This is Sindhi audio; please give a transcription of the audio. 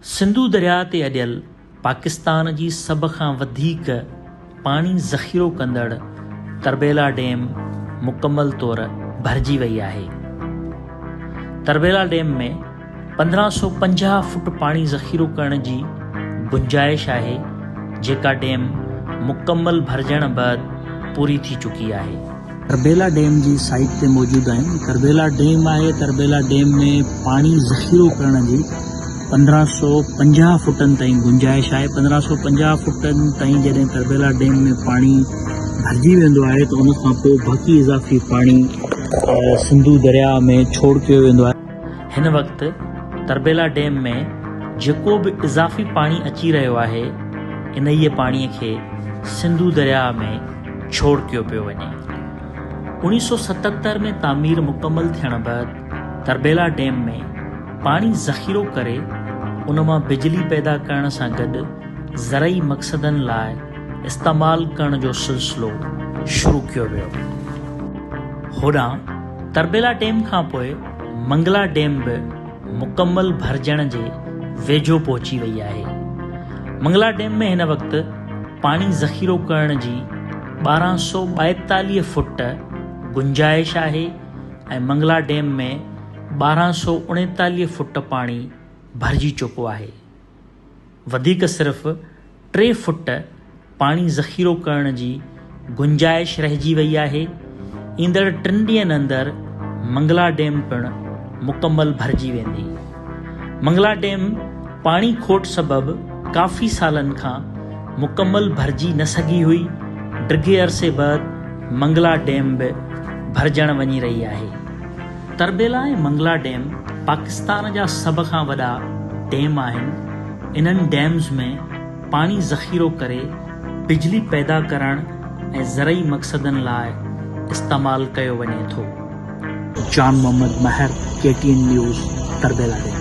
سنڌو درياء تي اڏيل پاڪستان جي سڀ کان وڌيڪ پاڻي ذخيرو ڪندڙ تربيلا ڊيم مڪمل طور ڀرجي وئي آهي. تربيلا ڊيم ۾ پندرهن سؤ پنجاهه فوٽ پاڻي ذخيرو ڪرڻ جي گنجائش آهي جيڪا ڊيم مڪمل ڀرجڻ بعد پوري ٿي چڪي آهي. تربيلا ڊيم جي سائيٽ تي موجود آهيون تربيلا ڊيم آهي تربيلا ڊيم ۾ پاڻي ذخيرو ڪرڻ جي پندرهن سؤ پنجاهه فوٽن تائين گنجائش آهي پندرهن سؤ پنجاهه فوٽن تائين جڏهن تربيلا ڊيم ۾ پاڻي ڀرجي ويندو آهي ته ان کانپوء باقي اضافي پاڻي سنڌو درياهه ۾ ڇوڙ ڪيو ويندو آهي. هن وقت تربيلا ڊيم ۾ جيڪو به اضافي پاڻي اچي رهيو آهي انهيء پاڻي کي سنڌو درياء ۾ ڇوڙ ڪيو پيو وڃي. اوڻيهه سؤ ستهتر ۾ تعمير مڪمل ٿيڻ بعد تربيلا ڊيم ۾ پاڻي ذخيرو ڪري ان مان بجلي پيدا ڪرڻ سان گڏ زرعي مقصدن لاء استعمال ڪرڻ جو سلسلو شروع ڪيو ويو. هوڏانهن تربيلا ڊيم کانپوء منگلا ڊيم به مڪمل ڀرجڻ جي ويجهو پهچي وئي آهي. منگلا ڊيم ۾ هن وقت پاڻي ذخيرو ڪرڻ جي ٻارهن سؤ ٻائيتاليهه فوٽ گنجائش آهي ۽ منگلا ڊيم ۾ ٻارهن سؤ اڻيتاليهه فوٽ پاڻي ڀرجي چڪو آهي. وڌيڪ صرف ٽي فوٽ پاڻي ذخيرو ڪرڻ جي گنجائش رهجي وئي آهي، ايندڙ ٽن ڏينهن اندر منگلا ڊيم پڻ مڪمل ڀرجي ويندي. منگلا ڊيم پاڻي کوٽ سبب ڪافي سالن کان مڪمل ڀرجي نه سگهي هئي، ڊگهي عرصي بعد منگلا ڊيم به ڀرجڻ وڃي رهي آهي. تربيلا ۽ منگلا ڊيم پاڪستان جا سڀ کان وڏا ڊيم آهن، انهن ڊيمز ۾ پاڻي ذخيرو ڪري بجلي پيدا ڪرڻ ۽ زرعي مقصدن لاء استعمال ڪيو وڃي ٿو. Jan Muhammad Mehar K T N news Tarbela dam.